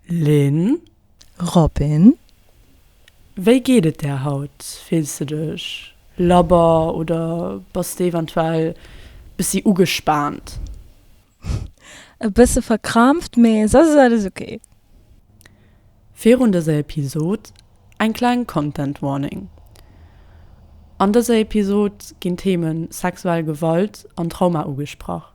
Lynn. Robin, Wéi geet et der haut? Fills de dech labber oder bass de eventuell bëssi ugespaant? E bësse verkrampft, mee soss ass alles ok. Virun dëser Episod eng kleng Content Warning, An dëser Episod ginn d'Themen sexuell Gewalt an Trauma ugesprach.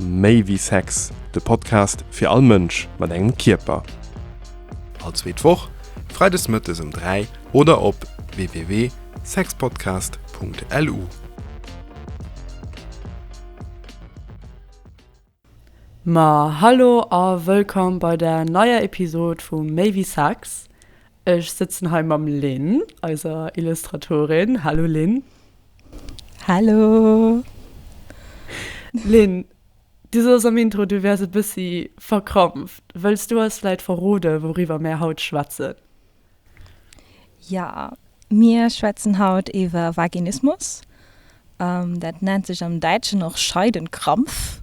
Méi wéi Sex, de Podcast fir all Mënsch mat engem Kierper. All zweet Woch, freides mëttes ëm 3 oder op www.sexpodcast.lu. Ma hallo a wëllkomm bei der neier Episod vu Méi wéi Sex. Ech sëtzen hei mam Lynn, eiser Illustratorin. Hallo Lynn. Hallo! Lynn, du soss am Intro, du wäers e bëssi verkrampft. Wëlls du eis vläit verrode wouriwwer mär haut schwätzen? Jo, mir schwätzen haut iwwer Vaginismus. Dat nennt sech am Däitschen och Scheidenkrampf.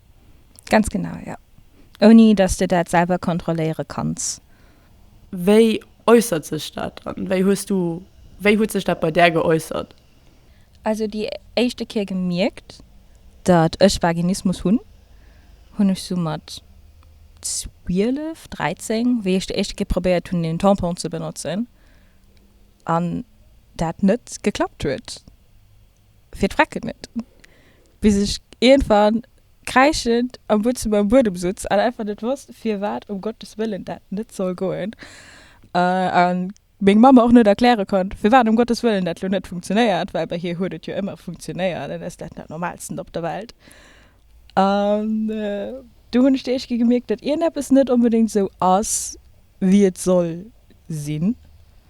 Ganz genau, jo. Ouni dass de dat selwer kontrolléiere kanns. Wéi äussert sech dat dann? Wéi hues du, wéi huet sech dat bei där geäussert? Also déi éischte Kéier gemierkt, datt ech Vaginismus hunn, hunn ech sou mat 12, 13, wéi ech déi éischte Kéier probéiert hunn een Tampon ze benotzen an dat net geklappt huet. fir d'Vrecken net, bis ech iergendwann kräischend am Butzem am Buedem sutz an einfach net wosst, firwat um Gottes Wëllen dat net soll goen, a meng Mamm mer och net erkläre konnt, firwat um Gottes Wëllen dat lo net funktionéiert, well bei hir huet et jo ëmmer funktionéiert an ass dat dat Normalsten op der Welt. An du hunn ech déi éischt Kéier gemierkt, datt iergendeppes net onbedéngt esou ass, wéi et soll sinn.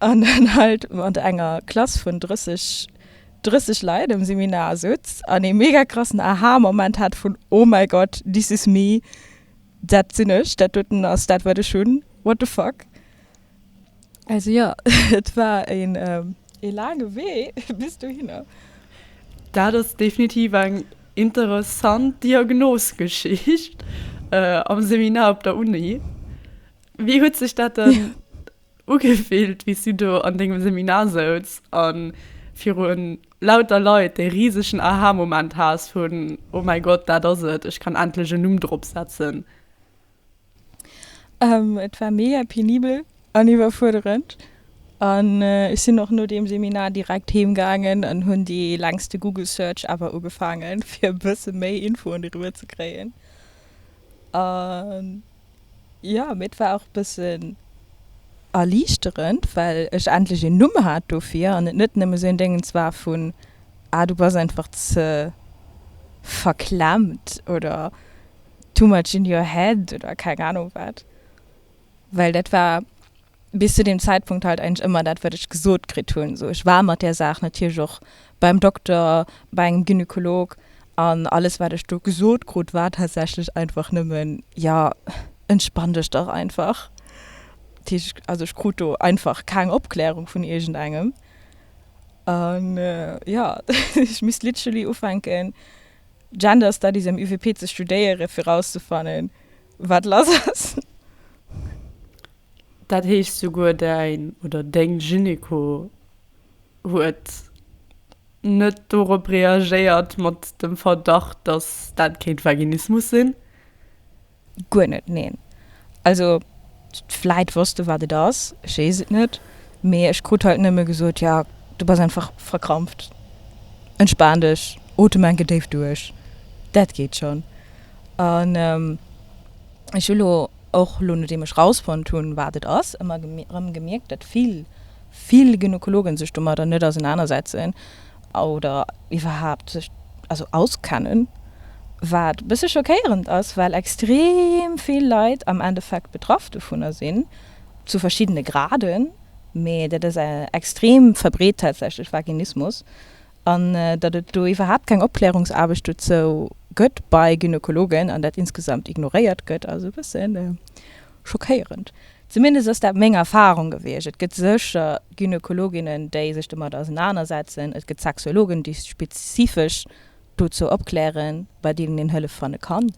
an dann halt mat enger Klass vun 30, 30 Leit am Seminar sutz an ee mega krassen Aha-Moment hat vun Oh mäi Gott, this is me, dat sinn ech, dat doten ass dat wat ech hunn, what the fuck. Also jo, et war een ee laange Wee bis dohinner. Dat ass definitiv eng interessant Diagnosgeschicht am Seminar op der Uni. Wéi huet sech dat dann Ugefillt wéi s du do an dengem Seminar souz an virun lauter Leit dee risegen Aha-Moment has vun Oh mäi Gott, dat ass et, ech kann endlech en Numm drop setzen. Et war mega penibel an iwwerfuerderend an ech sinn och no deem Seminar direkt heem gaangen an hunn dee längste Google Search ever ugefaangen fir e bësse méi Infoen doriwwer ze kréien an Jo, mee et war och e bëssen erliichterend, well ech endlech een Numm hat dofir an et net nëmme sou een Déngens war vun, Ah, du bass einfach ze verklemmt oder too much in your head oder keng Anung wat. Well dat war. Bis zu deem Zäitpunkt halt eigentlech ëmmer dat, wat ech gesot kritt hunn. Sou, ech war mat där Saach natierlech och beim Dokter, bei engem Gynekolog, an alles, wat ech do gesot krut, war tatsächlech einfach nëmmen, Jo, entspann dech dach einfach. Dat heescht, also ech krut do einfach keng Opklärung vun iergendengem. An jo, ech misst literally ufänken, Gender Studies am UWP ze studéieren, fir erauszefannen, wat lass ass. Dat heescht souguer däin oder deng Gynéco huet net dorop reagéiert mat dem Verdacht, dass dat kéint Vaginismus sinn? Guer net, neen. Also vläit wosst e wat et ass, ech weess et net, mee ech krut halt nëmme gesot, jo du bass einfach verkrampft, entspan dech, otem enke déif duerch, dat geet schonn. An ech hu lo. och lo nodeem ech rausfonnt hunn wat et ass, ëmmer rëm gemierkt dat vill vill Gynekologen sech domadder net ausenanersetzen oder iwwerhaapt sech also auskennen, wat bësse schockéierend ass, well extrem vill Leit am Endeffekt betraff dovunner sinn, zu verschiddene Graden, mee dat ass extrem verbreet tatsächlech, Vaginismus. an datt et do iwwerhaapt keng Opklärungsaarbecht dozou gëtt bei Gynekologen an dat insgesamt ignoréiert gëtt, ass e bësse schockéierend. Zumindest ass dat meng Erfarung gewiescht. Et gëtt sécher Gynekologinnen, déi sech domat ausenanersetzen, et gëtt Sexologen, déi spezifesch dozou opklären, bei deenen een Hëllef fanne kann,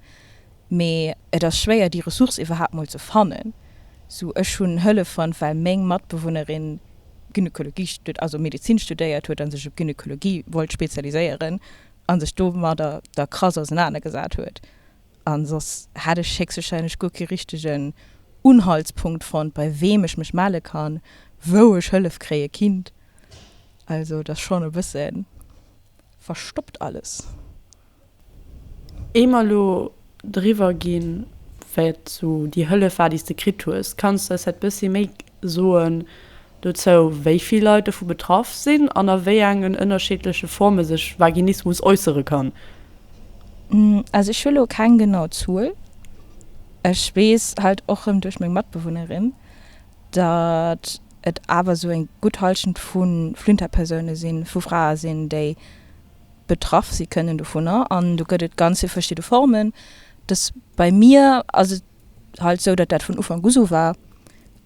Mee et ass schwéier déi Ressource iwwerhaapt mol ze fannen, sou ech hunn Hëllef fonnt well meng Matbewunnerin Gynekologie, also Medezin studéiert huet an sech op Gynekologie wollt spezialiséieren an sech domadder da krass ausenaner gesat huet an soss hätt ech héchstwahrscheinlech guer kee richtegen Unhaltspunkt fonnt bei weem ech mech melle kann, wou ech Hëllef kréie kinnt. Also et ass schonn e bësse verstoppt alles. Éier mer elo driwwer ginn, wat sou déi Hëllef war, déi s de kritt hues, kanns de eis dat bëssi méi soen dozou, wéi vill Leit dovu betraff sinn an a wéi engen ënnerscheedleche Forme sech Vaginismus äussere kann? Also ech hu elo keng genau Zuel. Ech weess halt och rëm duerch meng Matbewunnerin, datt et awer sou eng gutt Hallschent vu Flinterpersoune sinn, vu Frae sinn, déi. betraff si kënnen dovunner. An do gëtt et ganz vill verschidde Formen. Dass bei mir ass et halt esou, datt dat vun Ufank u sou war.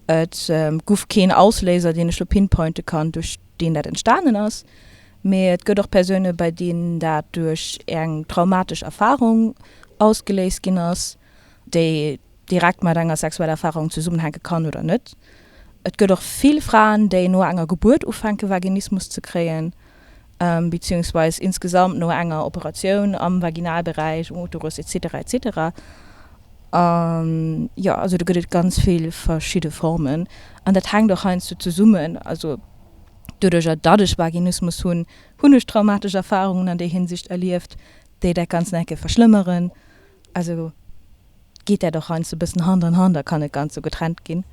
Et guff keen Ausléiser, deen ech elo pinpointen kann, duerch deen dat entstanen ass. Mee et gëtt och Persoune bei deenen dat duerch eng traumatesch Erfarung ausgeléist ginn ass. déi direkt mat enger sexueller Erfarung zesummenhänke kann oder net. Et gëtt och vill Fraen, déi no enger Gebuert ufänke Vaginismus ze kréien, beziehungsweis insgesamt no enger Operatioun am Vaginalberäich, um Uterus, etc. Etc. Jo, also do gëtt et ganz vill verschidde Formen an dat hänkt och heiansdo zesummen, also doduerjer datt ech Vaginismus hunn, hunn ech traumatesch Erfarungen an där Hinsicht erlieft, déi dat Ganzt nach eng Kéier verschlëmmeren. Also geet dat och heiansdo e bëssen Hand an Hand a kann net ganz sou getrennt ginn.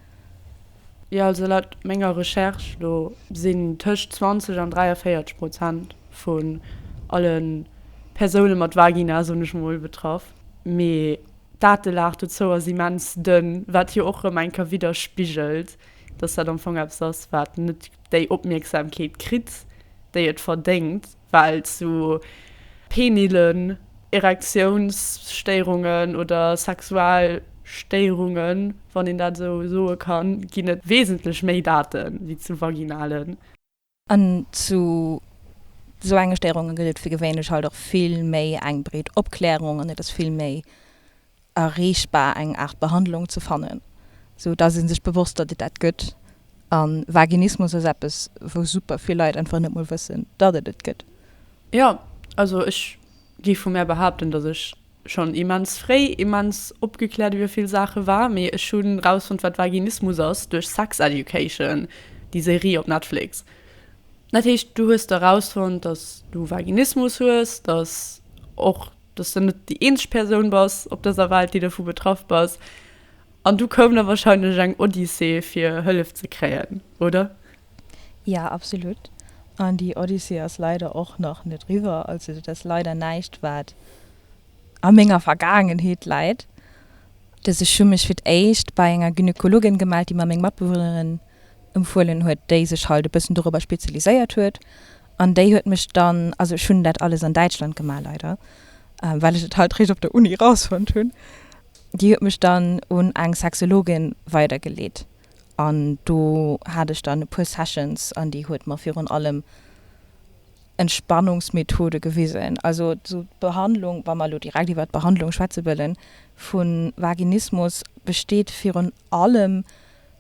Jo, also laut menger Recherche do sinn tëscht 20 an 43 Prozent vun alle Persoune mat Vagina, soen ech mol, betraff. Mee d'Datelag dozou ass immens dënn, wat jo och erëm eng Kéier widderspigelt, dass dat am Fong eppes ass, wat net déi Opmierksamkeet kritt, déi et verdéngt. well sou penilen Erektiounsstéierungen oder sexual Stéierungen, wann een dat esou soe kann, ginn et wesentlech méi Date wéi zu vaginalen. An zu sou enge Stéierunge gëtt et fir gewéinlech halt och vill méi eng breet Opklärung an et ass vill méi. erreechbar eng Aart Behandlung ze fannen, sou dass ee sech bewosst, datt et dat gëtt. A Vaginismus ass eppes, wou super vill Leit einfach net mol wëssen, datt et et gëtt. Jo, also ech gi vu mär behaapten, dass ech schonn immens fréi immens opgekläert iwwer vill Saache war. Mee ech hu rausfonnt, wat Vaginismus ass duerch Sex Education, déi Serie op Netflix. Dat heescht, du hues do rausfonnt, dass du Vaginismus hues, dass och dass de net déi eenzeg Persoun bass op dëser Welt, déi dovu betraff bass, an du koum da wahrscheinlech eng Odyssee fir Hëllef ze kréien, oder? Jo, absolut, an déi Odyssee ass leider och nach net riwwer, also dat ass leider näischt wat a menger Vergaangenheet läit. Dass ech hu mech fir d'éischt bei enger Gynekologin gemellt, déi mer meng Matbewunnerin Empfuelen huet, déi sech halt e bëssen dorobber spezialiséiert huet, an déi huet mech dann, also ech hunn dat alles an Däitschland gemaach leider, well ech et halt réischt op der Uni rausfonnt hunn, déi huet mech dann un eng Sexologin weidergeleet an do hat ech dann e puer Sessions an déi huet mer virun allem Entspannungsmethode gewisen, also sou d'Behandlung, wa mer elo direkt iwwert d'Behandlung schwätze wëllen, vun Vaginismus besteet virun allem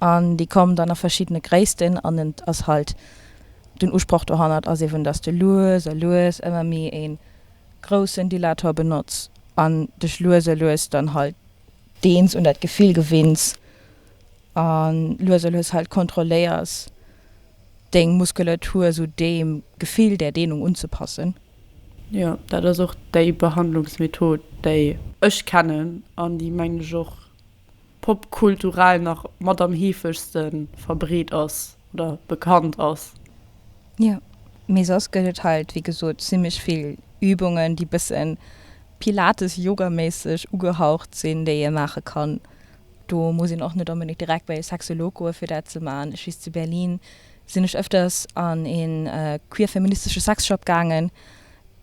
An déi kommen dann a verschiddene Gréissten an et ass halt, den Usproch dohannert ass eben, dass de lues a lues ëmmer méi e groussen Dilator benotz an dech lues a lues dann halt, deels un dat Gefill gewinns a lues a lues halt kontrolléiers, deng Muskulatur esou deem Gefill, där Deenung unzepassen. Jo, dat ass och déi Behandlungsmethod, déi. Ech kennen an déi, mengen ech, och popkulturell nach mat am heefegste verbreet ass oder bekannt ass. Jo, mee soss gëtt et halt, wéi gesot, zimmlech vill Übungen, déi bësse Pilates-Yoga-méisseg ugehaucht sinn, déi ee maache kann. Do muss een och net onbedéngt direkt bei e Sexolog goen, fir dat ze maachen. Ech weess, zu Berlin sinn ech ëfters an ee queer-feministesche Sexshop gaangen,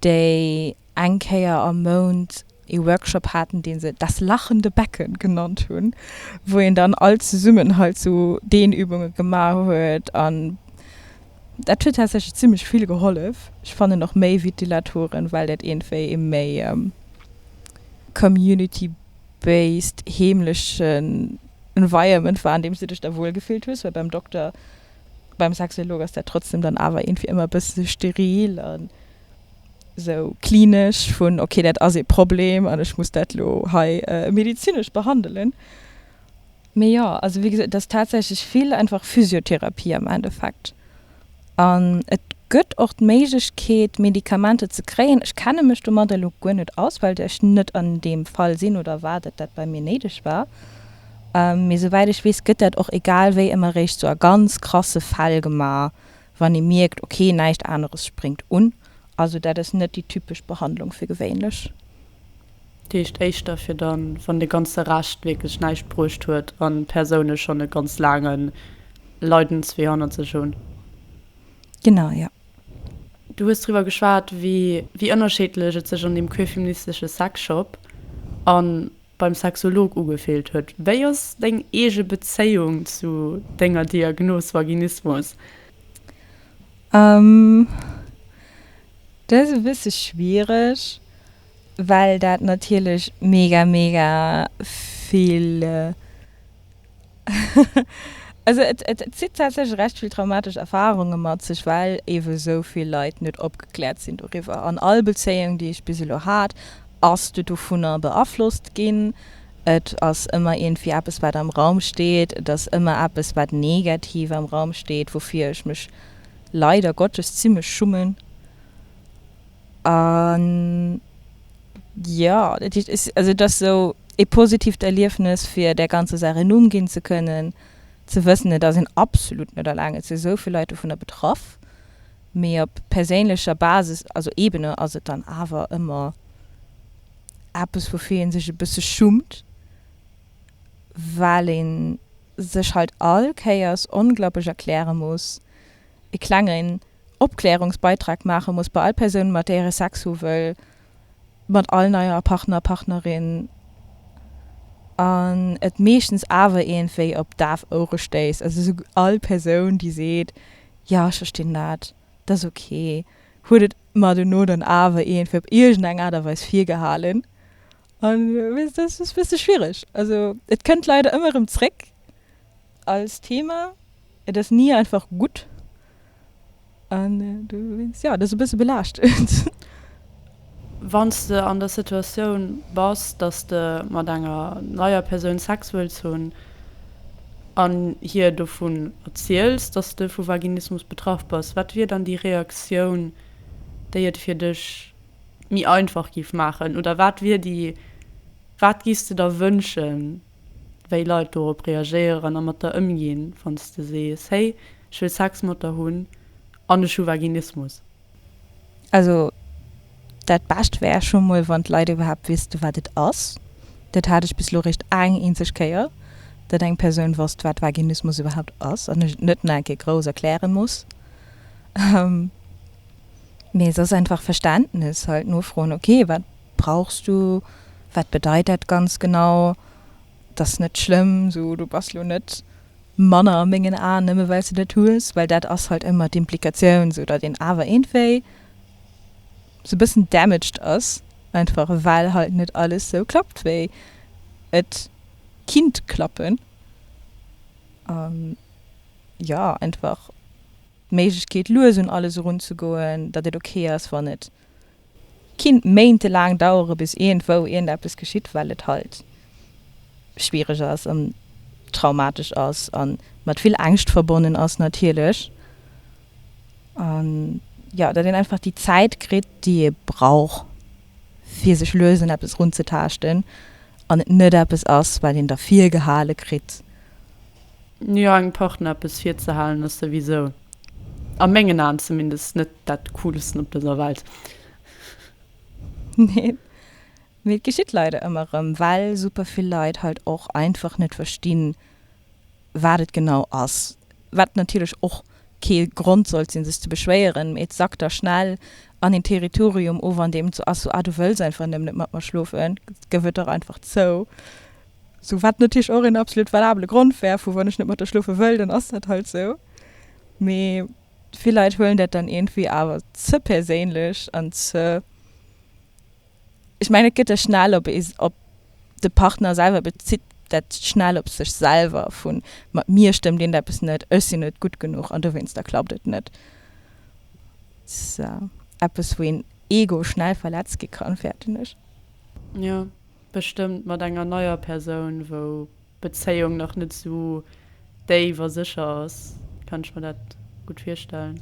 déi. eng Kéier am Mount ee Workshop haten, dee se Das lachende Becken genannt hunn, wou een dann all zesummen halt sou Dehnübunge gemaach huet. An dat huet tatsächlech zimlech vill gehollef. Ech fannen och méi wéi d'Dilatoren, well dat iergendwéi ee méi community based heemlechen Environment war, an deem s du dech da wuel gefillt hues, well beim Dokter, beim Sexolog ass dat trotzdem dann awer iergendwéi ëmmer e bësse steril. sou klinesch vun ok dat ass ee Problem an ech muss dat lo hei medizinesch behandelen. Mee jo also wéi gesot et ass tatsächlech vill einfach Physiotherapie am Endeffekt an et gëtt och d'Méiglechkeet Medikamenter ze kréien. Ech kenne mech domadder elo guer net aus, well ech net an deem Fall sinn oder war datt dat bei mir néideg war. Mee souwäit ech weess gëtt dat och egal wéi ëmmer eréischt sou a ganz krasse Fäll gemaach, Wann ee mierkt, ok, näischt aneres spréngt un, also dat ass net déi typesch Behandlung fir gewéinlech. Dat heescht éischter fir dann, wann de ganze Rescht wierklech näischt bruecht huet an d'Persoune schonn e ganz laange Leidenswee hannert sech hunn. Genau, jo. Du hues driwwer geschwat, wéi ënnerscheedlech et sech an deem queerfeministesche Sexshop an beim Sexolog ugefeelt huet. Wéi ass deng eege Bezéiung zu denger Diagnos Vaginismus? Dat ass e bësse schwiereg, well dat natierlech mega mega vill. Also et et zitt tatsächlech recht vill traumatesch Erfarunge mat sech, well eebe esou vill Leit net opgekläert sinn doriwwer. An all Bezéiung, déi ech bis elo hat, ass du dovunner beaflosst ginn. Et ass ëmmer iergendwéi eppes, wat am Raum steet. Et ass ëmmer eppes, wat negativ am Raum steet, woufir ech mech leider Gottes zimlech schummen. A jo, dat heescht, ech, also et ass esou ee positiivt Erliefnes, fir där ganzer Saach een Numm ginn ze kënnen, ze wëssen, et ass een absolut net alleng, et si esou vill Leit dovunner betraff. Mee op perséinlecher Basis, also Ebene, ass et dann awer ëmmer eppes, woufir ee sech e bësse schummt, well ee sech halt all Kéiers onglaublech erkläre muss, e klengen, Opklärungsbeitrag maache muss bei all Persoun, mat där ee Sex hu wëll, mat all neier Partner, Partnerin, an et meeschtens awer iergendwéi op daf Ouere stéisst. Also esou all Persoun, déi seet, Jo, ech verstinn dat, dat ass ok, huet et mer dono dann awer iergendwéi op iergendeng Aart a Weis virgehalen. A wéi gesot, dat ass e bësse schwiereg. Also et kënnt leider ëmmer erëm zréck. Als Thema, Et ass ni einfach gutt an du wéinst, jo, et ass e bësse belaaschtend. Wann s de an der Situatioun bass, datt s de mat enger neier Persoun Sex wëlls hunn an hir dovun erziels, datt s de vu Vaginismus betraff bass, wat wier dann déi Reaktioun, déi et fir dech méi einfach géif maachen? Oder wat wier déi, wat géifs de der wënschen? wéi Leit dorop reagéieren a mat der ëmginn, wann s de sees, hey, ech wëll Sex mat der hunn an ech hu Vaginismus. Also dat Bescht wär scho mol, wann d'Leit iwwerhaapt wüsste wat et ass. Dat hat ech bis elo réischt eng eenzeg Kéier, datt eng Persoun wosst, wat Vaginismus iwwerhaapt ass an ech et net nach eng Kéier grouss erkläre muss. Mee soss einfach Verständnes halt nofroen, ok, wat. Brauchs du? Wat bedeit dat ganz genau? T'ass net schlëmm, so du bass lo net manner a mengen Aen nëmme well s de dat hues, well dat ass halt ëmmer d'Implikatioun, sou datt een awer eenwéi sou bëssen damaged ass, einfach well halt net alles sou klappt wéi et kinnt klappen an jo einfach d'Méiglechkeet lues un alles erunzegoen, datt et ok ass wann et Kinnt Méinte laang dauere bis iergendwou iergendeppes geschitt, well et halt schwiereg ass an traumatesch ass an mat vill Ängscht verbonnen ass natierlech. An jo, datt een einfach déi Zäit kritt déi ee brauch fir sech lues un eppes runzetaaschten an et net eppes ass wat een da virgehale kritt. Jo, engem Partner eppes virzehalen ass souwisou, a mengen Aen zumindest, net dat Coolsten op dëser Welt. Neen, mee et geschitt leider ëmmer erëm, well super vill Leit halt och einfach net verstinn, wat et genau ass. Wat natierlech och kee Grond sollt sinn, sech ze beschwéieren, mee et sackt da schnell an een Territorium of, an deem et sou ass, sou, Ah, du wëlls einfach nëmmen net mat mer schlofen, gëff et dach einfach zou. Sou, wat natierlech och een absolut valabele Grond wär, vu wann ech net mat der schlofe wëll, dann ass dat halt sou. Mee vill Leit huelen dat dann iergendwéi awer ze perséinlech an ze, ech mengen, et gëtt da schnell op ee, op de Partner selwer, bezitt dat schnell op sech selwer, vu mat mir stëmmt iergendeppes net, ech sinn net gutt genuch an dowéinster klappt et net. Eppes, wou een Ego schnell verletzt gi kann, fäerten ech. Jo, Bestëmmt mat enger neier Persoun, wou d'Bezéiung nach net esou déif a sécher ass, kann ech mer dat gutt virstellen.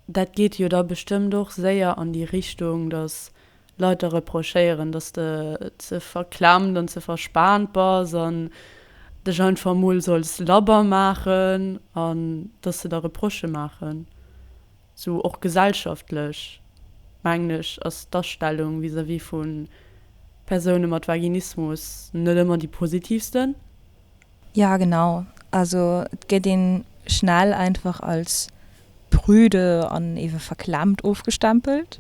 Dat geet jo da bestëmmt och séier an déi Richtung, datt Leit der reprochéieren, datt de ze verklemmt an ze verspaant bass an dech einfach emol solls labber maachen an datt se der Reproche maachen. Sou och gesellschaftlech, mengen ech, ass d'Astellung vis-à-vis vu Persoune mat Vaginismus net ëmmer déi positivsten. Ja genau, also et gëtt een schnell einfach als prüde an ewe verklemmt ofgestempelt.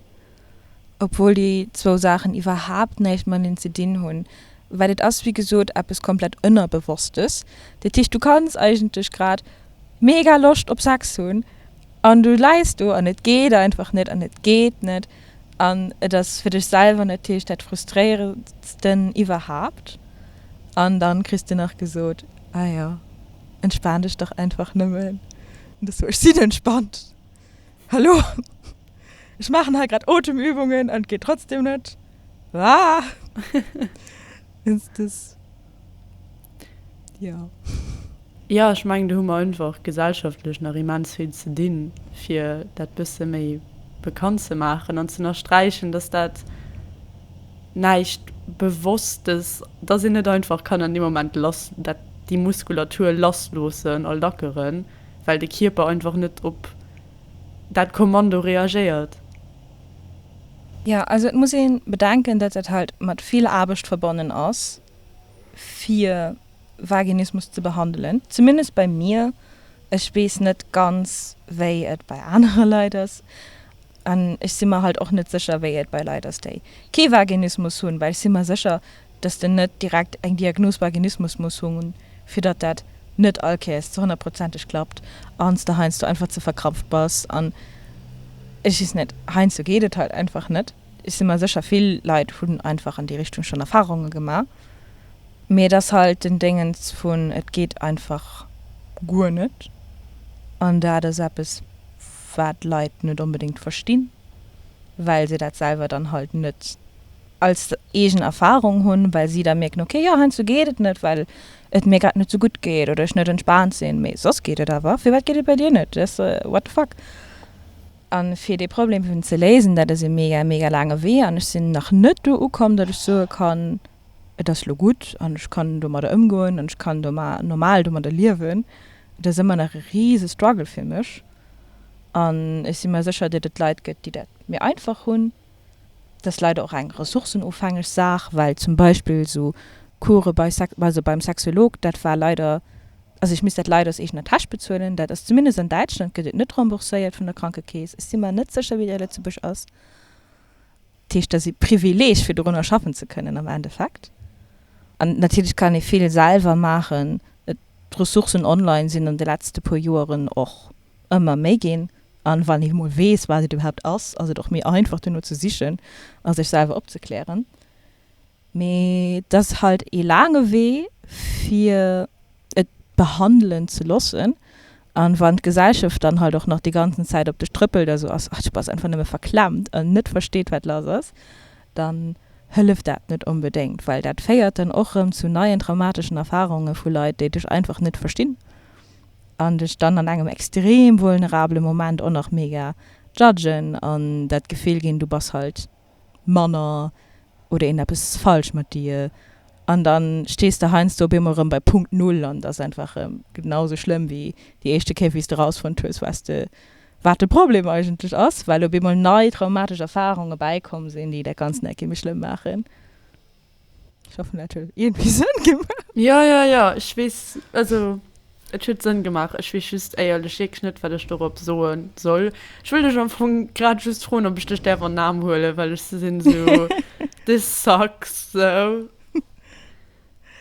obwuel déi zwou Saachen iwwerhaapt näischt mateneen ze dinn hunn, well et ass wéi gesot eppes komplett Ënnerbewosstes. Dat heescht, du kanns eigentlech grad mega Loscht op Sex hunn an du läis do an et geet einfach net an et geet net an et ass fir dech selwer natierlech dat Frustréierendsten iwwerhaapt an da kriss de nach gesot, Ah jo, entspan dech dach einfach nëmmen, an da soe ech, Sinn entspannt! Hallo! Ech maachen hei grad Otemübungen an et geet trotzdem net. Waah! Ins des ja. Jo, ech mengen do hu mer einfach gesellschaftlech nach immens vill ze dinn, fir dat bësse méi bekannt ze maachen an z'ënnersträichen, dass dat näischt Bewosstes, dass een net einfach kann an deem Moment lass, dat, déi Muskulatur lass loossen a lackeren. well de Kierper einfach net op dat Kommando reagéiert. Jo, also et muss ee bedenken, datt dat halt mat vill Aarbecht verbonnen ass fir Vaginismus ze behandelen, zumindest bei mir, ech weess net ganz wéi et bei anere Leit ass an ech si mer halt och net sécher wéi et bei Leit ass déi kee Vaginismus hunn, well ech si mer sécher, dass den net direkt eng Diagnos Vaginismus muss hunn, fir datt dat net all Kéiers ze honnertprozenteg klappt an s de heiansdo einfach ze verkrampft bass an ech weess net, heiansdo geet et halt einfach net. Ech si mer sécher, vill Leit hunn einfach an déi Richtung schonn Erfarunge gemaach, mee et ass halt den Déngens vun et geet einfach guer net an dat ass eppes, wat d'Leit net onbedéngt verstinn, well se dat selwer dann halt net. als eegen Erfahrung hunn, well si da mierken, okay, jo, heiansdo geet et net, well et mir grad net sou gutt geet oder ech net entspaant sinn, mee soss geet et awer. Firwat geet et bei dir net? Des what the fuck? A fir dee Problem eben ze léisen, dat ass e mega, mega laange Wee an ech sinn nach net do ukomm, datt ech soe kann, et ass elo gutt an ech kann domadder ëmgoen an ech kann normal domadder liewen. Et ass ëmmer nach e rise Struggle fir mech an ech si mer sécher, datt et Leit gëtt, déi dat méi einfach hunn. Dat ass leider och eng ressourcenofhängeg Saach, well zum Beispill esou Course bei Sex, also beim Sexolog, dat war leider, also ech misst dat leider aus eegener Täsch bezuelen. Dat ass zumindest an Däitschland gëtt et net rembourséiert vun der Krankekeess. Ech si mer net sécher, wéi dat a Lëtzebuerg ass. Dat heescht, et ass ee Privileeg, fir dorunner schaffen ze kënnen am Endeffekt. An natierlech kann ee vill selwer maachen. D'Ressourcen online sinn an de letzte puer Joeren och ëmmer méi ginn, an wann een emol weess wat et iwwerhaapt ass, ass et och méi einfach dono ze sichen a sech selwer opzeklären. Mee et ass halt ee laange Wee fir et behandelen ze loossen, an wann d'Gesellschaft dann halt och nach déi ganzen Zäit op dech trëppelt a sou ass, ach du bass einfach nëmme verklemmt an net versteet wat lass ass, dann hëlleft dat net onbedéngt, well dat féiert dann och rëm zu neien traumateschen Erfarunge vu Leit déi dech einfach net verstinn. an dech dann an engem extrem vulnerabele Moment och nach mega judgen an dat Gefill ginn, du bass halt manner oder een eppes ass falsch mat dir an da stees de heiansdo op eemol erëm bei Punkt Null an et ass einfach erëm genau sou schlëmm wéi déi éischte Kéier wéi s de rausfonnt hues wat de wat de Problem eigentlech ass, well op eemol nei traumatesch Erfarunge bäikomm sinn, déi dat Ganzt nach e kéi méi schlëmm maachen. Ech hoffen dat huet iergendwéi Sënn gemaach. Jo jo jo, ech weess, also et huet Sënn gemaach. Ech weess just éierlech wierklech net, wat ech dorop soe soll. Ech wëll dech am Fong grad just froen, ob ech dech däerf an den Aarm huelen, well ech sinn esou, this sucks esou.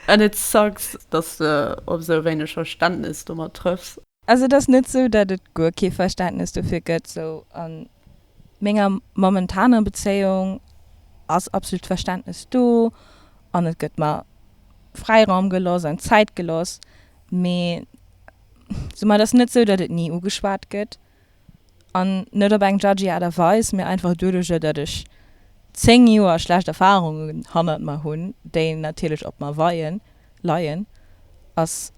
And it sucks, dass de op esou wéineg Verständnes domat trëffs. Also et ass net sou, dat et guer kee Verständnes dofir gëtt. Sou an menger momentaner Bezéiung ass absolut Verständnes do an et gëtt mer Fräiraum geloss an Zäit geloss. Mee sou mer et ass net sou, dat et ni ugeschwat gëtt. An net op eng judgy Aart a Weis, mee einfach doduerjer, datt ech 10 Joer schlecht Erfarungen hannert mer hunn, déi natierlech op mer weien, leien, ass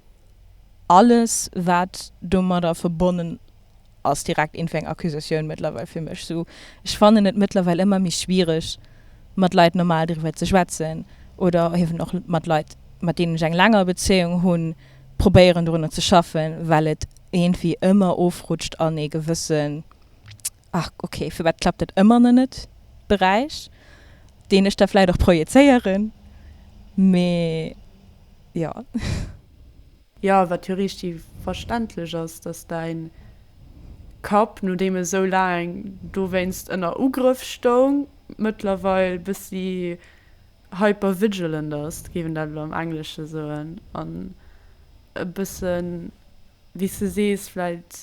alles wat domadder verbonnen ass direkt iergendwéi eng Accusatioun mëttlerweil fir mech. Sou, ech fannen et mëttlerweil ëmmer méi schwiereg mat Leit normal driwwer ze schwätzen oder eben och mat Leit mat deenen ech eng länger Bezéiung hunn, probéieren dorunner ze schaffen, well et iergendwéi ëmmer ofrutscht an ee gewëssen, ach okay, firwat klappt dat ëmmer nach net? Beräich, deen ech da vläit och projezéieren, mee jo. Jo, wat jo riichti verständlech ass, dass däin Kapp, nodeem e sou laang dowéinst ënner Ugrëff stoung, mëttlerweil bëssi hypervigilant ass, géif een dat elo am Englesche soen, an e bësse wéi s de sees vläicht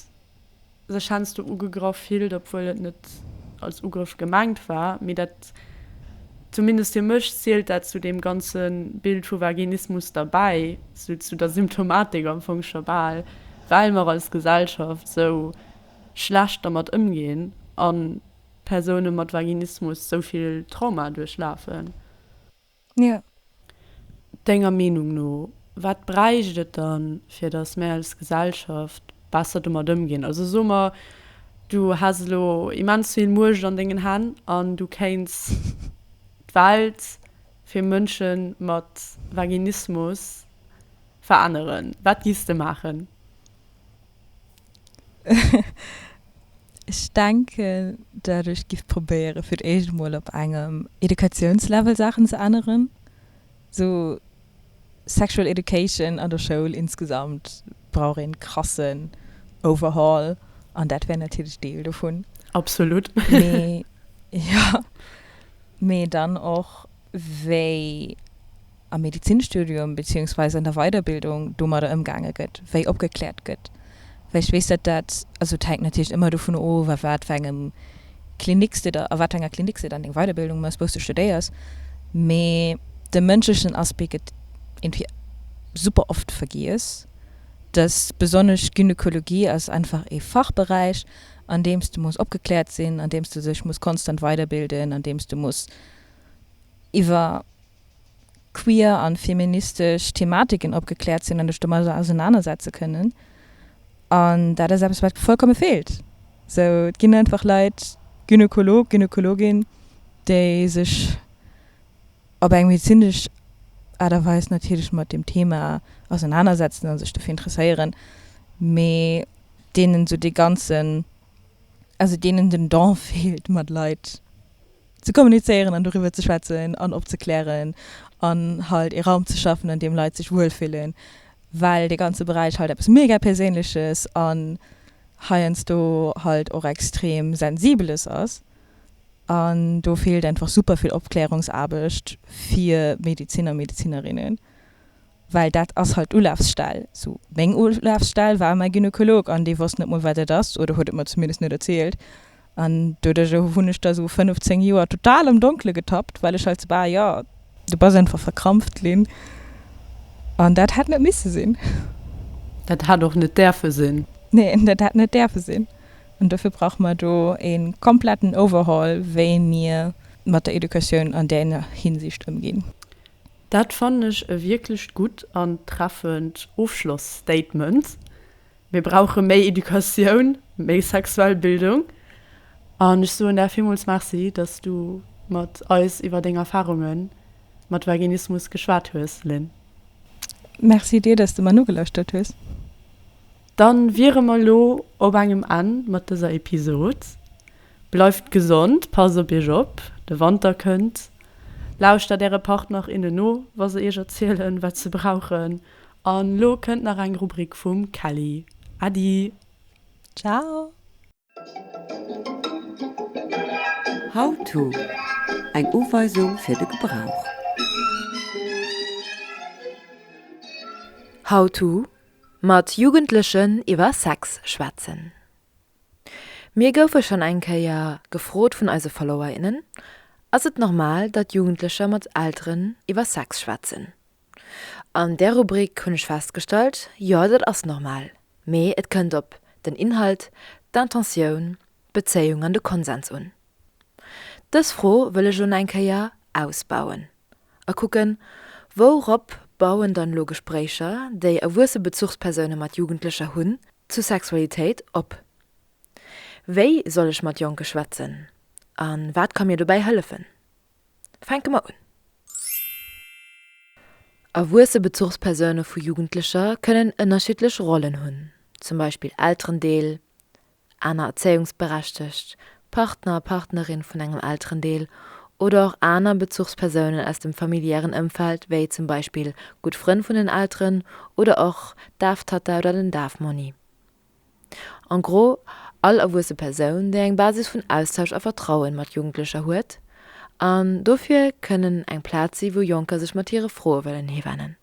sech heiansdo ugegraff fillt, obwuel et net als Ugrëff gemengt war, mee dat, zumindest fir mech zielt dat zu deem ganze Bild vu Vaginismus derbäi, sou zu der Symptomatik am Fong scho bal, well mer als Gesellschaft sou schlecht dermat ëmginn an Persoune mat Vaginismus sou vill Trauma duerchlafen? Jo. Denger Meenung no, wat bräicht et dann, fir datt mär als Gesellschaft besser domat ëmginn? Also so mer, du häss elo immens vill Muecht an dengen Hänn an du kéints d'Welt fir Mënsche mat Vaginismus veränneren. Wat giffs de maachen? Ech denken, datt ech giff probéieren, fir d'éischt emol op engem Educatiounslevel Saachen ze änneren. Sou Sexual Education an der Schoul insgesamt brauch een krassen Overhaul, an dat wär natierlech Deel dovun. Absolut. Mee, jo. Mee dann och wéi am Medizinstudium beziehungsweise an der Weiderbildung domadder ëmgaange gëtt, wéi opgekläert gëtt. Well ech weess, dat dat, also et hänkt natierlech ëmmer dovun of, a wat fir engem Klinik s de da, a wat fir enger Klinik s de dann deng Weiderbildung méchs, wou s de studéiers, mee de mënschlechen Aspect gëtt irgendwie super oft vergiess, dass besonnesch Gynekologie ass einfach ee Fachberäich, an deem s de muss opgekläert sinn, an deem s de sech muss konstant weiderbilden, an deem s de muss, iwwer queer an feministesch Thematiken opgekläert sinn an dech domadder ausenaner setze kënnen. An dat ass eppes wat vollkomme feelt. Sou et ginn einfach Leit, Gynekolog, Gynekologin, déi sech op eng medezinesch Aart a Weis natierlech mat dem Thema ausenaner setzen an sech dofir interesséieren, mee deenen sou dee ganzen, also deenen den Don feelt mat Leit, ze kommunizéieren an doriwwer ze schwätzen an opzeklären an halt ee Raum ze schaffen, an deem Leit sech wuel fillen, well dee ganze Beräich halt eppes mega Perséinleches an heiansdo halt och extrem Sensibeles ass. An do feelt einfach super vill Opklärungsaarbecht fir Medeziner, Medezinerinnen. well dat ass halt d'Ulafsstell, sou meng Ulafsstell war mäi Gynekolog an dee wosst net mol wat dat ass oder huet et mer zumindest net erzielt an doduerch hunn ech da sou 5, 10 Joer total am Donkele getappt, well ech halt sou bah jo du bass einfach verkrampft ginn an dat hätt net misse sinn. Dat hätt och net däerfe sinn. Nee, dat hätt net däerfe sinn an dofir brauche mer do e kompletten Overhaul, wéi mir mat der Educatioun an där Hinsicht ëmginn. Dat fannen ech e wierklecht gutt an treffend Ofschlossstatement. Mir brauche méi Educatioun, méi sexuell Bildung. An ech soen der villmools Merci, dass du mat eis iwwer deng Erfarunge mat Vaginismus geschwat hues, Lynn. Merci dir, dass du mer nogelauschtert hues. Dann wiere mer elo op engem Enn mat dëser Episode. Bleift gesond, passt op iech op, de Wanter kënnt. Lauschtert äre Partner, innen no, wa se iech erzielen, wat se brauchen. An elo kënnt nach eng Rubrik vum Kelly. Äddi! Ciao! How-to, Eng Uweisung fir de Gebrauch. How-to, Mat Jugendlechen iwwer Sex schwätzen. Mir goufe schonn eng Kéier gefrot vun eise Follower, innen, Ass et normal, datt Jugendlecher mat Elteren iwwer Sex schwätzen? An där Rubrik hunn ech festgestallt, Jo, dat ass normal, mee et kënnt op den Inhalt, d'Intentioun, d'Bezéiung an de Konsens un. Dës Fro wëll ech elo nach eng Kéier ausbauen. a kucken, Wourop bauen dann elo Gespréicher, déi erwuesse Bezuchspersoune mat Jugendlecher hunn, zu Sexualitéit op? Wéi soll ech mat Jonke schwätzen a wat ka mir dobäi hëllefen? Fänke mer un. Erwuesse Bezuchspersoune vu Jugendlecher kënnen ënnerschiddlech Rollen hunn, zum Beispill Elterendeel, aner erzéiungsberechtegt Partner a Partnerin vun engem Elterendeel oder och aner Bezuchspersounen aus dem familiären Ëmfeld, wéi zum Beispill gutt Frënn vun den Elteren oder och d'Daftatta oder den Dafmonni. En gros, all erwuesse Persoun, déi eng Basis vun Austausch a Vertrauen mat Jugendlecher huet an dofir kënnen eng Plaz si wou Jonker sech mat hire Froe wëllen hiwennen.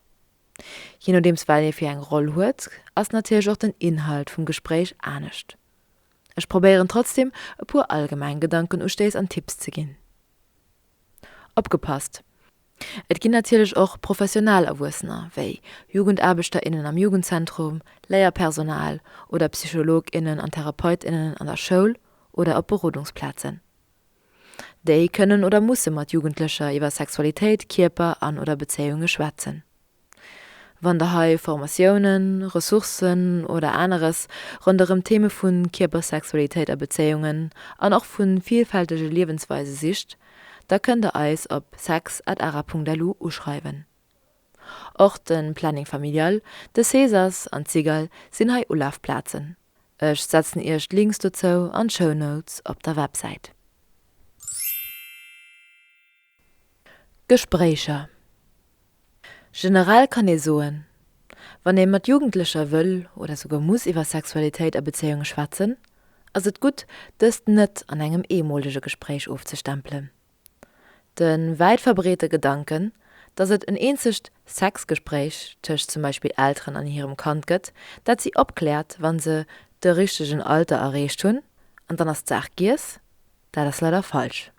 Je nodeems wat ee fir eng Roll huet, ass natierlech och den Inhalt vum Gespréich anescht. Ech probéieren trotzdem e puer allgemeng Gedankenustéiss an Tipps ze ginn. Opgepasst, Et ginn natierlech och professionell Erwuessener, wéi Jugendaarbechter, innen am Jugendzentrum, Léierpersonal oder Psycholog, innen an Therapeut, innen an der Schoul oder op Berodungsplazen. Déi kënnen oder musse mat Jugendlecher iwwer Sexualitéit, Kierper an oder Bezéiunge schwätzen. Wann der hei Formatiounen, Ressourcen oder aneres ronderëm d'Theme vu Kierper, Sexualitéit a Bezéiungen an och vu villfältege Liewensweise sicht, da kënnt der eis op sex@ara.lu uschreiwen. Och de Planning Familial, de Cesas an d'Sigal sinn hei Ulafplazen. Ech setzen iech d'Links dozou an d'Show Notes op der Websäit. Gespréicher Generell kann ee soen, wann ee mat Jugendlecher wëll oder souguer muss iwwer Sexualitéit a Bezéiunge schwätzen, ass et gutt, dëst net an engem eemolege Gespréich ofzestempelen. De wäit verbreete Gedanken, datt et en eenzegt Sexgespréich tëscht zum Beispill Elteren an hirem Kand gëtt, dat si opkläert, wa se de richtegen Alter erreecht hunn, an dann ass d'Saach giess, dat ass leider falsch.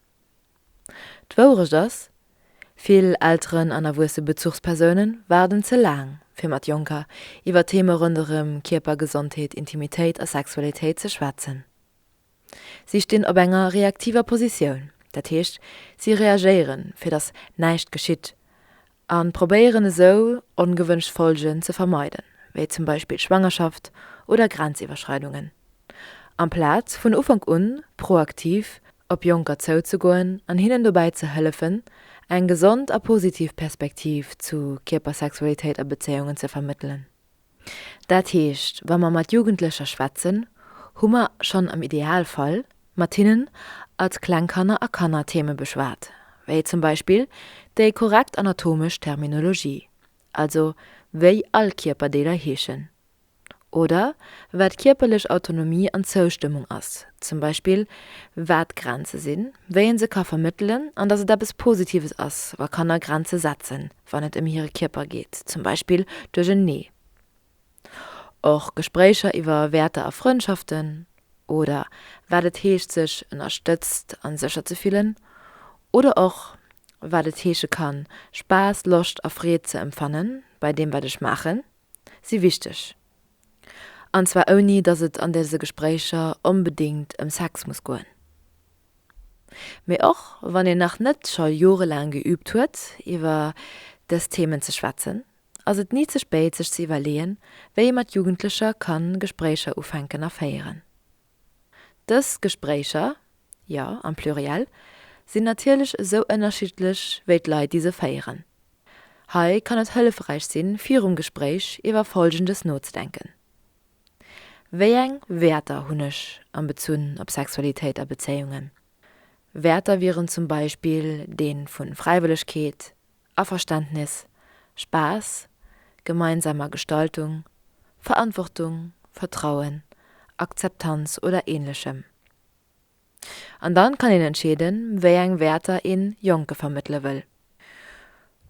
D'Wourecht ass, vill Elteren an erwuesse Bezuchspersoune waarden ze laang, fir mat Jonker iwwer Theme ronderëm Kierpergesondheet, Intimitéit a Sexualitéit ze schwätzen. Si stinn op enger reaktiver Positioun, dat heescht, si reagéieren, fir datt näischt geschitt, a probéieren esou, ongewënscht Folgen ze vermeiden, wéi zum Beispill Schwangerschaft oder Grenziwwerschreidungen, amplaz vun Ufank un proaktiv op Jonker zouzegoen an hinnen dobäi ze hëllefen, eng gesond a positiv Perspektiv zu Kierpersexualitéit a Bezéiungen ze vermëttelen. Dat heescht, wa mer mat Jugendlecher schwätzen, hu mer schonn am Idealfall mat hinnen als Klengkanner a Kanner Theeme beschwat, wéi zum Beispill déi korrekt anatomesch Terminologie, also wéi all Kierperdeeler heeschen, oder wat kierperlech Autonomie an Zoustëmmung ass, zum Beispill wat d'Grenze sinn, wéi ee se ka vermëttelen an dass et eppes Positives ass, wa Kanner Grenze setzen. wann et ëm hire Kierper geet, zum Beispill duerch en Nee. Och Gespréicher iwwer Wäerter a Frëndschaften oder wat et heescht, sech ënnerstëtzt a sécher ze fillen oder och wat et heesche kann, Spaass, Loscht a Freed ze empfanne bei deem, wat ech maachen, si wichteg. An zwar ouni, dass et an dëse Gespréicher onbedéngt ëm Sex muss goen. Mee och wann een nach net scho jorelaang geüübt huet, iwwer dës Themen ze schwätzen, ass et ni ze spéit, sech ze iwwerleeën, wéi ee mat Jugendlecher kann Gespréicher ufänken a féieren. Dës Gespréicher, jo, am Pluriel, sinn natierlech esou ënnerschiddlech wéi d'Leit, déi se féieren. Hei kann et hëllefräich sinn, virum Gespréich iwwer Folgendes nozedenken. Wéi eng Wäerter hunn ech a Bezunn op Sexualitéit a Bezéiungen? Wäerter wieren zum Beispill dee vu Fräiwëllegkeet, Averständnis, Spaass, gemeinsamer Gestaltung, Verantwortung, Vertrauen, Akzeptanz oder Ähnlechem. An dann kann een entscheeden, wéi eng Wäerter een Jonke vermëttele wëll.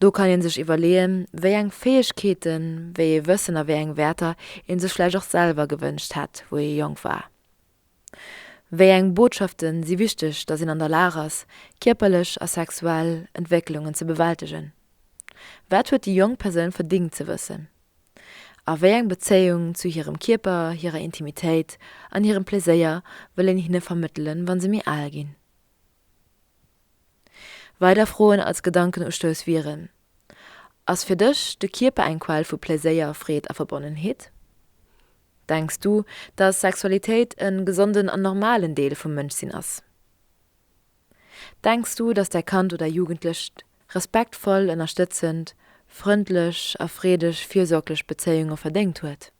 Do kann een sech iwwerleeën, wéi eng Fäegkeeten, wéi ee Wëssen a wéi eng Wäerter een sech vläicht och selwer gewënscht hätt, wou ee jonk war. Wéi eng Botschafte si wichteg, datt een an der Lag ass, kierperlech a sexuell Entwécklungen ze bewältegen? Wat huet déi jonk Persoun verdingt ze wëssen? A wéi eng Bezéiung zu hirem Kierper, hirer Intimitéit an hirem Pleséier wëll een hinne vermëttelen, wa se méi al ginn? Weider Froen als Gedankenustouss wieren, Ass fir dech de Kierper eng Quell vu Pleséier, Freed a Verbonnenheet? Denks du, dass Sexualitéit e gesonden an normalen Deel vum Mënschsinn ass? Denks du, dass däi Kand oder Jugendlecht respektvoll, ënnerstëtzend, frëndlech a freedeg, fürsorglech Bezéiunge verdéngt huet?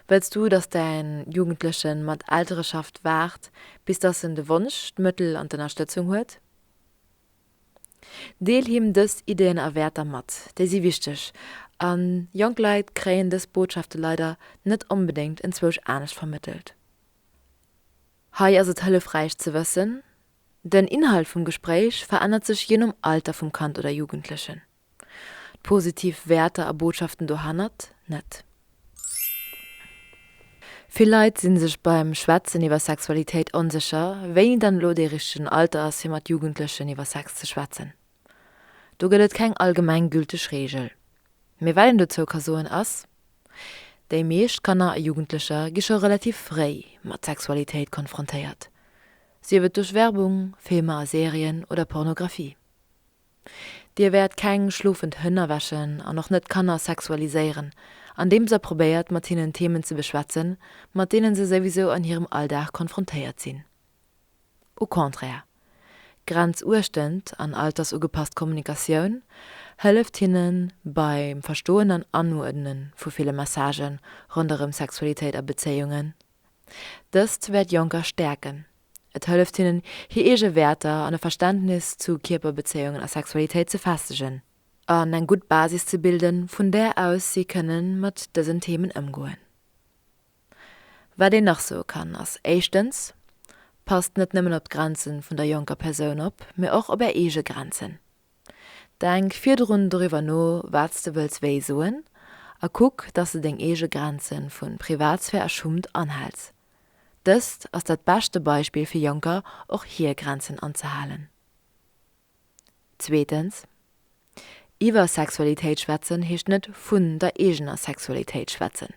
Wëlls du, dass däin Jugendlechen mat Eltereschaft waart, bis dass en de Wonsch, d'Mëttel an d'Ënnerstëtzung huet? Deel him dës Ideen a Wäerter mat, déi si wichteg, a jonk Leit kréien dës Botschafte leider net onbedéngt enzwousch anescht vermëttelt. Hei ass et hëllefräich ze wëssen, Den Inhalt vum Gespréich verännert sech jee nom Alter vum Kand oder Jugendlechen, d'positiv Wäerter a Botschaften dohannert net. Vill Leit si sech beim Schwätzen iwwer Sexualitéit onsécher, wéini dann elo dee richtegen Alter ass, fir mat Jugendlechen iwwer Sex ze schwätzen. Do gëtt et keng allgemenggülteg Reegel. Mee wat een dozou ka soen ass. Déi meescht Kanner a Jugendlecher gi scho relativ fréi mat Sexualitéit konfrontéiert, sief et duerch Werbung, Filmer a Serien oder Pornografie. Dir wäert keng schlofend Hënn erwächen an och net Kanner sexualiséieren, andeems der probéiert mat hinnen Themen ze beschwätzen, mat deenen se souwisou an hirem Alldag konfrontéiert sinn. Au contraire, grenzuechtend an altersugepasst Kommunikatioun hëlleft hinne beim Verstoen an Anuerdne vu ville Messagë ronderëm Sexualitéit a Bezéiungen. Dëst wäert Jonker stäerken, et hëlleft hinnen, hir eege Wäerter an e Verständnis zu Kierperbezéiungen a Sexualitéit ze festegen an eng gutt Basis ze bilden, vun där aus si kënne mat dësen Themen ëmgoen. Wat een nach soe kann, ass éischtens, Passt net nëmmen op d'Grenze vun der jonker Persoun op, mee och op Är eege Grenzen. Denk virdrun doriwwer no, wat s de wëlls wéi soen a kuck, dass de deng eege Grenze vu Privatsphär a Schummt anhälls. Dëst ass dat beschte Beispill fir Jonker, och hir Grenzen anzehalen. Zweetens, Iwwer Sexualitéit schwätzen heescht net vun der eegener Sexualitéit schwätzen.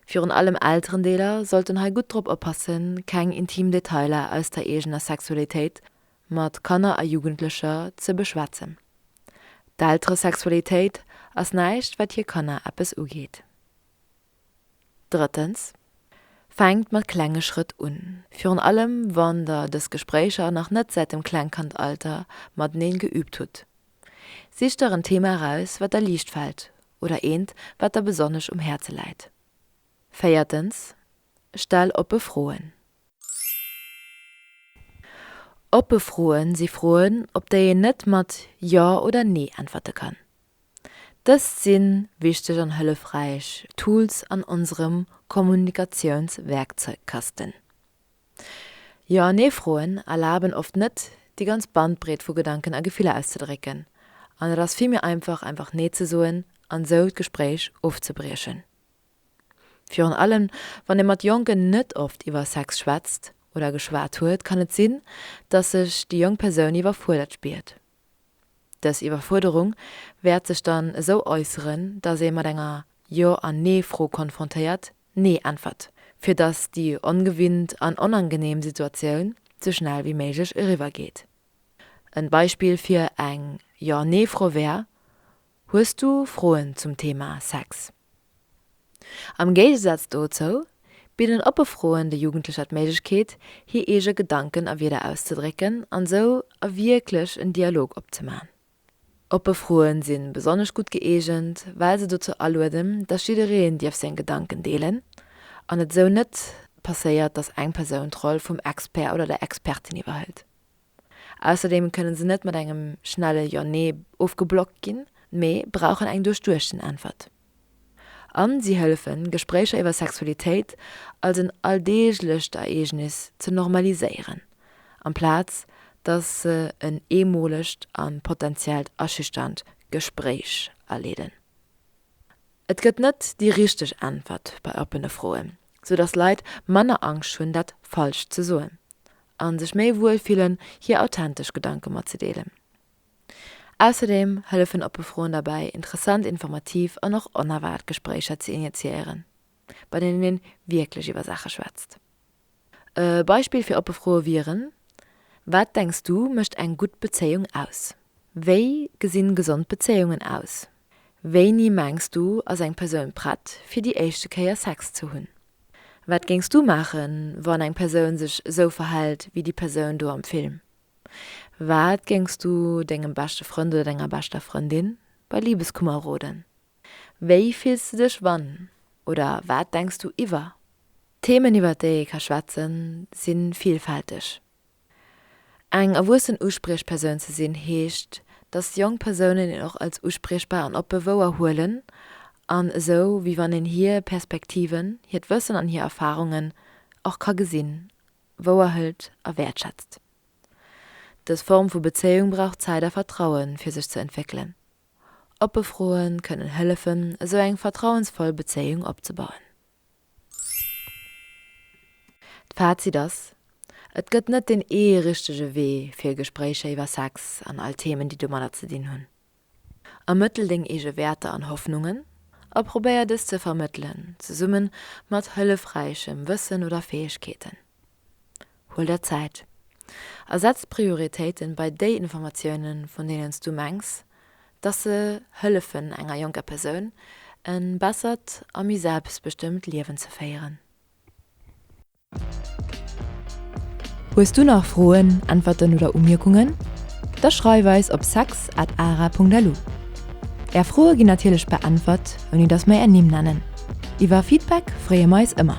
Virun allem Elterendeeler sollten hei gutt drop oppassen, keng intim Detailer aus der eegener Sexualitéit mat Kanner a Jugendlecher ze beschwätzen. D'Elteresexualitéit ass näischt, wat hir Kanner eppes ugeet. Drëttens, Fänkt mat klenge Schrëtt un. Virun allem wann der dës Gespréicher nach net säit dem Klengkandalter mateneen geüübt hutt. Sicht der en Thema eraus, wat der liicht fält oder eent, wat der besonnesch um Häerze läit. Véiertens, Stell oppe Froen. Oppe Froen si Froen, op déi een net mat Jo oder Nee äntwerte kann. Dëst si wichteg an hëllefräich Tools an onserem Kommunikatiounswerkzeugkasten. Jo an Nee-Froen erlaben oft net, déi ganz Bandbreet vu Gedanken a Gefiller auszedrécken, an et ass vill méi einfach, einfach Nee ze soen an esou d'Gespréich ofzebriechen. Virun allem wann ee mat Jonken net oft iwwer Sex schwätzt oder geschwat huet, kann et sinn, dass sech déi jonk Persoun iwwerfuerdert spiert. Dës Iwwerfuerderung wäert sech dann esou äusseren, datt ee mat enger Jo an Nee-Fro konfrontéiert, Nee äntwert, fir datt déi ongewinnt an onangeneem Situatioun sou schnell wéi méiglech eriwwer geet. En Beispill fir eng Jo-Nee-Fro wär, Hues du Froen zum Thema Sex? Am Géigesaz dozou bidden oppe Froen de Jugendlecher d'Méiglechkeet, hir eege Gedanken a Wierder auszedrécken an sou a wierklech en Dialog opzeman. Oppe Froen si besonnesch gutt gëeegent, well se dozou alueden, dass jiddereen dierf seng Gedanken deelen an et sou net passéiert, dass eng Persoun d'Roll vum Expert oder der Expertin iwwerhëlt. Ausserdeem kënnen se net mat engem schnelle Jo, Nee ofgeblockt ginn, mee brauchen eng duerchduechten Äntwert. An si hëllefen, Gespréicher iwwer Sexualitéit als en alldeeglecht Ereegnis ze normaliséieren, amplaz dass se en eemolegt a potentiellt aschüchternd Gespréich aleeden. Et gëtt net déi richteg Äntwert bei oppene Froen, sou dass Leit manner Angscht hunn, dat Falscht ze soen. an sech méi wuel fillen, hir authentesch Gedanke matzedeelen. Ausserdeem hëllefen oppe Froen derbäi, interessant, informativ an och onerwaart Gespréicher ze initiéieren, bei deenen een wierklech iwwer Saache schwätzt. E Beispill fir oppe Froe wieren, Wat denks du mécht eng gutt Bezéiung aus? Wéi gesinn gesond Bezéiungen aus? Wéini mengs du ass eng Persoun prett fir déi éischte Kéier Sex ze hunn? Wat géings du maachen, wann eng Persoun sech esou verhält wéi déi Persoun do am Film? Wat géings du dengem beschte Frënd oder denger beschter Frëndin bei Libeskummer roden? Wéi fills du dech wann oder wat denks du iwwer? D'Themen iwwert déi ee ka schwätzen sinn villfälteg. Eng erwuessen Uspriechpersoun ze sinn heescht, dass jonk Persounen een och als uspriechbar an oppe wouer huelen an esou wéi wann een hir Perspektiven, hiert Wëssen an hir Erfarungen och ka gesinn, wouer hëlt a wäertschätzt. Dës Form vu Bezéiung brauch Zäit a Vertraue fir sech ze entwéckelen. Oppe Froe kënnen hëllefen, esou eng vertrauensvoll Bezéiung opzebauen. D'Fazit ass, Et gëtt net deen ee richtege Wee fir Gespréicher iwwer Sex an all Themen, déi domadder ze dinn hunn. Ermëttel deng eege Wäerter an Hoffnungen a probéier dës ze vermëttelen, zesummen mat hëllefräichem Wëssen oder Fäegkeeten. Huel der Zäit a setz d'Prioritéiten bei déi Informatiounen, vun deenen s du mengs, dass se hëllefen enger jonker Persoun e bessert a méi selbstbestëmmt Liewen ze féieren. Hues du nach Froen, Äntwerten oder Umierkungen? Da schreif eis op sex at ara.lu. Är Froe ginn natierlech beäntwert, ouni dass mer är Nimm nennen. Iwwer Feedback freeë mer eis ëmmer.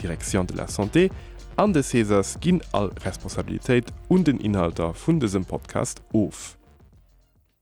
Direction de la Santé an de Cesas ginn all Responsabilitéit un den Inhalter vun dësem Podcast of.